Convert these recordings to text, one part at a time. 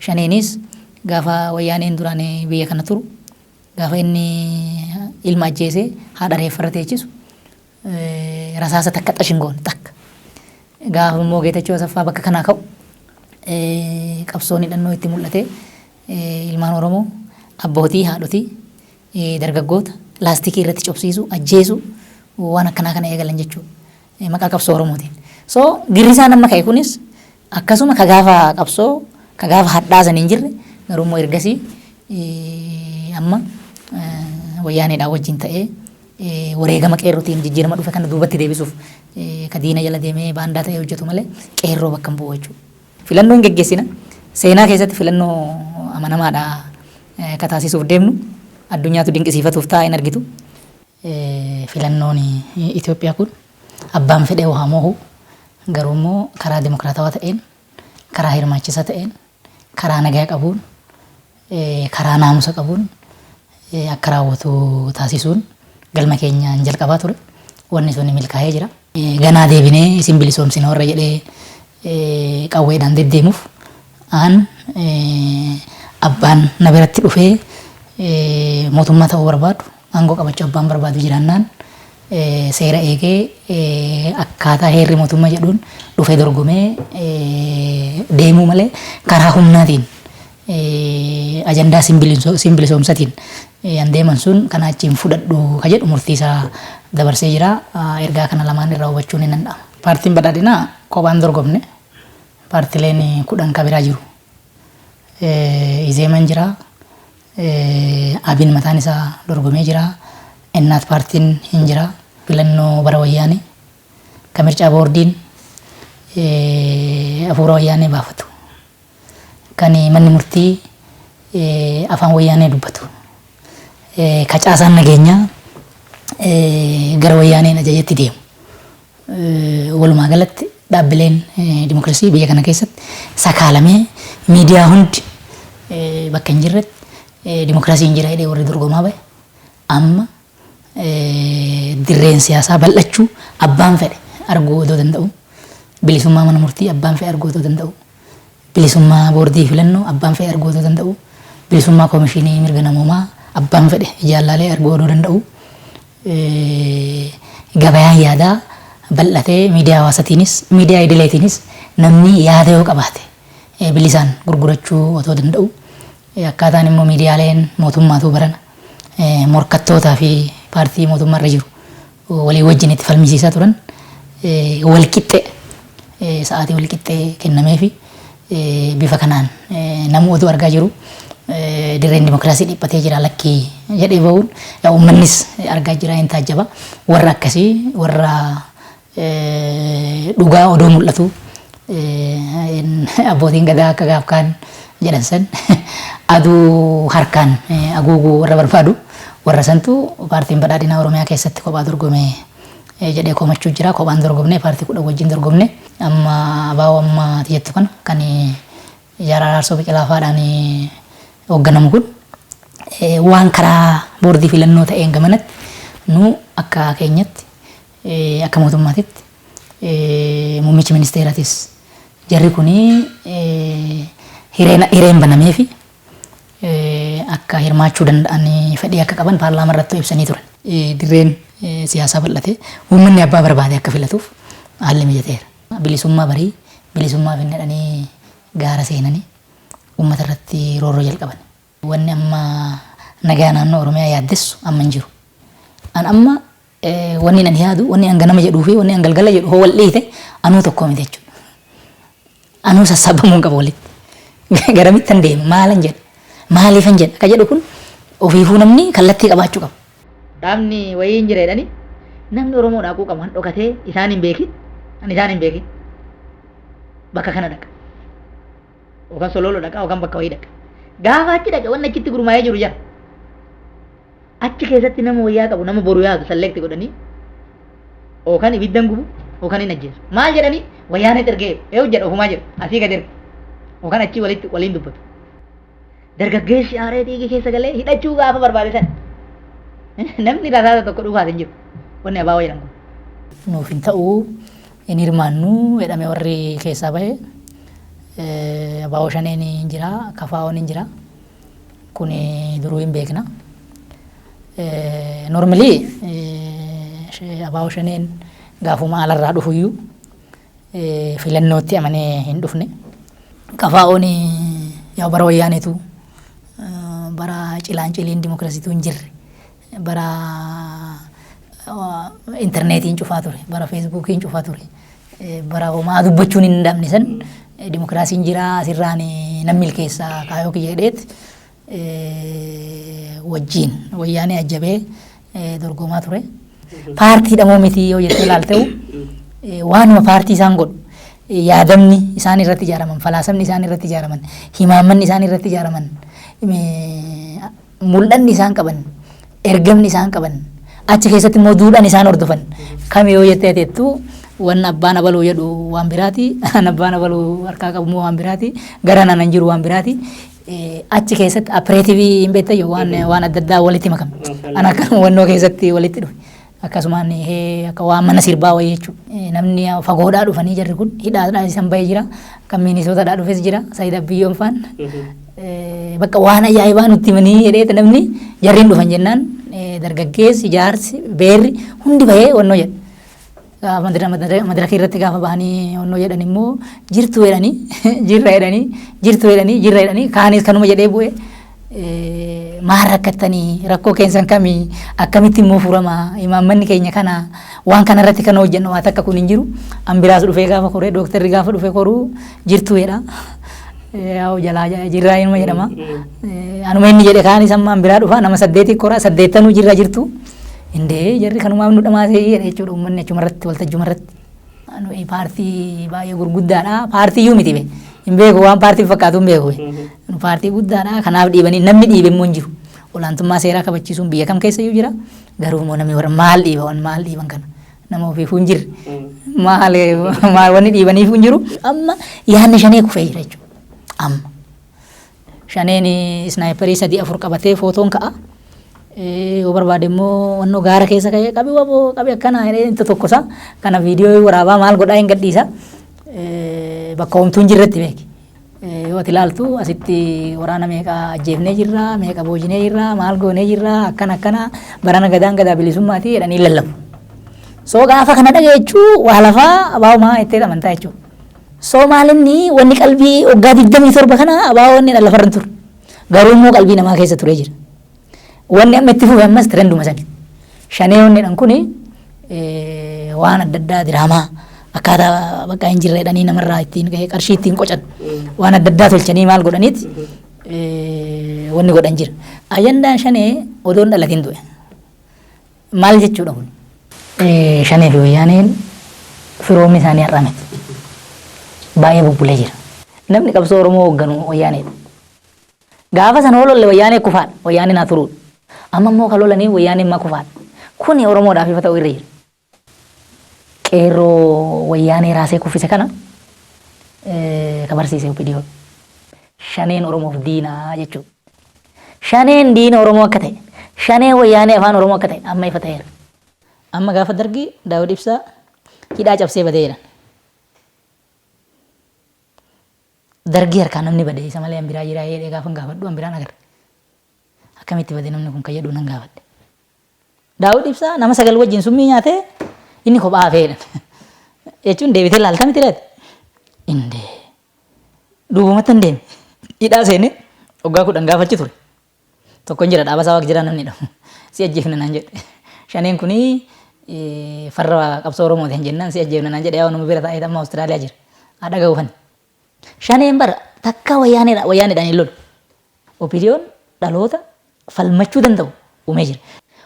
Shaneenis gaafa Wayyaaneen duraan biyya kana turu gaafa inni ilma ajjeesee haadha reeffarra teechisu rasaasa takka xash hin goone takka. Gaafa immoo Geetachoo Asaffaa bakka kanaa ka'u qabsoon hidhannoo itti mul'atee ilmaan Oromoo abbootii haadhotii dargaggoota laastikii irratti cobsiisuu ajjeesuu waan akkanaa kana eegalan jechuudha. Maqaa qabsoo Oromootiin. So girrisaan amma ka'e kunis Akkasuma ka gaafa qabsoo ka gaafa hadhaa san hin jirre garuu immoo ergasii amma wayyaaneedhaan wajjin ta'ee wareegama qeerrotiin jijjiirama dhufe kana duubatti deebisuuf ka diina jala deemee baandaa ta'ee hojjetu malee qeerroo bakka hin bu'u jechuudha. Filannoo hin geggeessina. Seenaa keessatti filannoo amanamaadha ka taasisuuf deemnu addunyaatu dinqisiifatuuf ta'a hin argitu. Filannoon Itoophiyaa kun abbaan fedhe hoo haa moohu Garuu immoo karaa demokraatawaa ta'een, karaa hirmaachisaa ta'een, karaa nagaa qabuun, karaa naamusa qabuun akka raawwatu taasisuun galma keenya inni jalqabaa ture. Wanni sun milkaa'ee jira. Ganaa deebinee isin bilisoomsina warra jedhee qawweedhaan deddeemuuf an abbaan na biratti dhufee mootummaa ta'uu barbaadu Aangoo qabachuu abbaan barbaadu jiraannaan seera eegee akkaataa heerri mootummaa jedhuun dhufee dorgomee deemuu malee karaa humnaatiin ajandaa siin bilisoomsatiin yan deeman sun kanaa achi hin fudhadhu ka jedhu murtii isaa dabarsee jira. Ergaa kana lamaan irraa hubachuun hin danda'ama. Paartiin badhaadhinaa kophaan dorgomne paartileen kudhan ka biraa jiru. Izeeman jira. Abin mataan isaa dorgomee jira. Innaat paartiin hin jira. Filannoo bara wayyaanee ka mircaa boordiin afuura wayyaanee baafatu kan manni murtii afaan wayyaanee dubbatu ka caasaan nageenyaa gara wayyaaneen ajajetti deemu Walumaa galatti dhaabbileen dimokirasii biyya kana keessatti sakaalamee miidiyaa hundi bakka hin jirretti dimokirasiin jira jedhee warri dorgomaa bahe amma dirreen siyaasaa bal'achuu abbaan fedhe arguu odoo danda'u bilisummaa mana murtii abbaan fedhe arguu odoo danda'u Bilisummaa Boordii Filannoo abbaan fedhe arguu odoo danda'uu, bilisummaa Komishinii Mirga Namoomaa abbaan fedhe ijaan laalee arguu odoo danda'uu, gabayaan yaadaa bal'atee miidiyaa hawaasatiinis, miidiyaa idileetiinis namni yaada yoo qabaate bilisaan gurgurachuu otoo danda'uu, akkaataan immoo miidiyaaleen mootummaatuu barana morkattootaafi paartii mootummaarra jiru walii wajjin itti falmisiisaa turan wal qixxe sa'aatii wal qixxee kennameefi bifa kanaan namuu oduu argaa jiru dirreen dimokiraasii dhiphatee jira lakkii jedhee bahuun yaa uummannis argaa jira hin taajjaba warra akkasii warra dhugaa odoo mul'atu Abbootiin Gadaa akka gaaf kaan jedhan san aduu harkaan aguuguu warra barbaadu warra santu paartiin badhaadhinaa Oromiyaa keessatti kophaa dorgome jedhee komachuu jira. Kophaan dorgomne paartii kudhan wajjin dorgomne amma abaa'oo amma ati jettu kana kan Jaal Araarsoo Biqilaa faadhaan hoogganamu kun waan karaa boordii filannoo ta'een gamanatti nu akka keenyatti Akka mootummaatitti muummichi ministeeratis jarri kun hireen banameefi akka hirmaachuu danda'an fedhii akka qaban paarlaamaa irrattuu ibsanii turan. Dirreen siyaasaa bal'atee uummanni abbaa barbaade akka filatuuf haalli mijateera. Bilisummaa barii bilisummaa finna jedhanii gaara seenanii uummata irratti roorroo jalqaban. Wanni amma nagaa naannoo Oromiyaa yaaddessu amma hin jiru. An amma wanni an yaadu, wanni an ganama jedhuu fi wanni an galgala jedhu hoo wal dhiite anuu tokko miti jechuudha. Anuu sassaabamuu hin qabu walitti. Garamittan deema, maalan jedha, maaliifan jedha ka jedhu kun ofiifuu namni kallattii qabaachuu qaba. Dhaabni wayii hin jira jedhanii namni Oromoo dhaquu qabu an dhokatee isaan hin beekin, an isaan hin beekin bakka kana dhaqa. yookaan solooloo dhaqa yookaan bakka wayii dhaqa. Gaafa achi dhaqe wanni achitti gurmaa'ee jiru jira. Achi keessatti nama wayyaa qabu nama boru yaadu salleekti godhanii yookaan ibiddan gubu yookaan hin ajjeesu. Maal jedhanii wayyaan hin ergee eewu jedha ofumaa jedhu asii gad erga yookaan achii walitti waliin dubbatu. Dargaggeessi aaree dhiigi keessa galee hidhachuu gaafa barbaade sana namni rasaasa tokko dhufaas hin jiru wanni abaa wayyaadhan kun. Nuuf hin ta'u hin hirmaannu jedhame warri keessaa bahe abo shaneen hin jira KFOn hin jira kun duruu hin beekna normally abo shaneen gaafuma alarraa dhufuyyuu filannootti amanee hin dhufne KFOn yaa bara wayyaaneetu bara cilaan ciliin dimokiraasiitu hin jirre bara interneetiin cufaa ture, bara feesbuukiin cufaa ture, bara homaa dubbachuun hin dhabne san dimokiraasiin jiraa asirraan nan milkeessa kaayoo kiyya jedheet wajjiin wayyaanee ajjabee dorgomaa ture. Paartii dhamoo miti yoo jettee ilaalteu waanuma paartii isaan godhu yaadamni isaan irratti ijaaraman, falaasamni isaan irratti ijaaraman, himaammanni isaan irratti ijaaraman mul'anni isaan qaban, ergamni isaan qaban, achi keessatti immoo duudhaan isaan hordofan kami yoo jettee teettu waan abbaan abaluu jedhu waan biraati, an abbaan abaluu harkaa qabu immoo waan biraati, gara naan hin jiru waan biraati. Eh, Achi keessatti apireetivii hin beektayyuu waan waan adda addaa walitti makame. An akka hubannoo keessatti walitti dhufe. akkasumaan eh, akka waan mana sirbaa wayii jechuudha. Namni ah, fagoodhaa dhufanii jarri kun hidhaadhaa isan bahee jira. Kan miinisootadhaa dhufes jira. Saayid Abbiyyoon faan. Eh, Bakka waan ajaa'ibaa nutti himanii jedheeti namni jarriin dhufan jennaan eh, dargaggeessi, jaarsi, beerri hundi bahee wannoo jedha. Gaafa madara- madara- madarakii irratti gaafa bahanii wannoo jedhan immoo jirtu jedhanii jirra jedhanii jirtu jedhanii jirra jedhanii kaanis kanuma jedhee bu'ee maal rakkattanii rakkoo keessan kami akkamitti immoo furama imaammanni keenya kana waan kana irratti kan hojjennu waan takka kun hin jiru an biraas dhufee gaafa koree dooktarri gaafa dhufee koruu jirtu jedha yaa'u jalaa jirraa inuma jedhama anuma inni jedhe kaan isa ammaan biraa dhufa nama saddeetii koraa saddeettanuu jirra jirtu indee jarri kanumaaf nu dhamaasee jedhe jechuudha uummanni achuma irratti waltajjuma irratti. Nuyi paartii baay'ee gurguddaadha. Paartii iyyuu miti be. Hin beeku waan paartiin fakkaatu hin beeku. Nu paartii guddaadha. Kanaaf dhiibanii namni dhiibe immoo hin jiru. Olaantummaa seeraa kabachiisuun biyya kam keessa iyyuu jira. Garuu immoo namni warra maal dhiiba waan maal dhiiban kana. Nama ofiifuu hin jirre. Maal maal wanni dhiibaniifuu hin jiru. Amma yaadni shanee kufee jira jechuudha. Amma. Shaneen isnaayiperii sadii afur qabatee footoon ka'a. Yoo barbaade immoo wannoo gaara keessa ka'ee qabi waboo qabi akkana jedhee inta tokkosa. Kana viidiyoo waraabaa maal godhaa hin gadhiisa. Bakka homtuu hin jirretti beeki. Yoo ati ilaaltu asitti waraana meeqa ajjeefnee jirra, meeqa boojinee jirra, maal goonee jirra, akkana akkana barana gadaan gadaa bilisummaati jedhanii lallabu. So gaafa kana dhageechuu waa lafaa abaabumaa jettee amantaa jechuudha. So maal inni wanni qalbii waggaa 27 kana abaawoo inni dha lafarra hin turre. Garuu immoo qalbii namaa keessa turee jira. Wanni amma itti fufe ammas tirenduma sani. Shanee wanni dhan kuni waan adda addaa diraamaa akkaataa bakka hin jirre dhanii namarraa ittiin qarshii ittiin qocan waan adda addaa tolchanii maal godhaniit wanni godhan jira. Ajandaan shanee odoon dhalatiin du'e. Maal jechuudha kun? Shanee fi Wayyaaneen firoomni isaanii har'a miti. Baay'ee bubbulee jira. Namni qabsoo Oromoo hoogganu Wayyaaneedha. Gaafa sana yoo lolle Wayyaanee kufaadha. Wayyaaneen haa turuudha. Amma immoo kan lolaniif Wayyaaneen ma kufaadha. Kuni Oromoodhaaf ifa ta'uu irra jira. Qeerroo Wayyaanee raasee kuffise kana ka barsiise OPDO. Shaneen Oromoof diina jechuudha. Shaneen diina Oromoo akka ta'e, Shaneen Wayyaanee Afaan Oromoo akka ta'e amma ifa ta'eera. Amma gaafa Dargii Daawud Ibsaa hidhaa cabsee badee jedhan. Dargii harkaa namni bade isa malee an biraa jiraa jedhee gaafan gaafadhu an biraan agarre. Akkamitti bade namni kun kan jedhu nan gaafadhe. Daawud Ibsaa nama sagal wajjin summii nyaatee inni kophaa hafee jedhan. Jechuun deebitee laalta miti laata? Indee. Dhugumattan deeme. Hidhaa seenee waggaa kudhan gaafa achi ture. Tokkon jira dhaaba isaa waaq jiraa namni jedhamu. Si ajjeefna naan jedhe. Shaneen kuni farra qabsoo Oromooti hin jennaan si ajjeefna naan jedhe yaa nama bira taa'ee amma Awustiraaliyaa jira. Haa dhaga'u fani. Shaneen bara takka wayyaaneedha wayyaaneedhaan hin lolu. Opidiyoon dhaloota falmachuu danda'u uumee jira.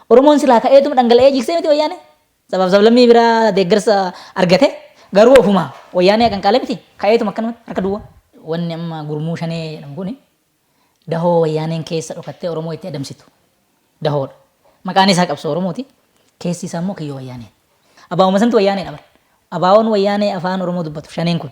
Oromoon silaa ka'eetuma dhangala'ee jigsee miti wayyaanee? Sabaaf sablammii biraa deeggarsa argate garuu ofuma wayyaanee aqanqaale miti ka'eetuma akkanumatti harka duwwaa. Wanni amma gurmuu shanee jedhamu kun dahoo wayyaaneen keessa dhokattee Oromoo itti adamsitu dahoodha. Maqaan isaa qabsoo Oromooti keessi isaa immoo kiyyoo wayyaaneeti. Abaa'uma santu wayyaanedha bar. Abaa'oon wayyaanee afaan Oromoo dubbatu shaneen kun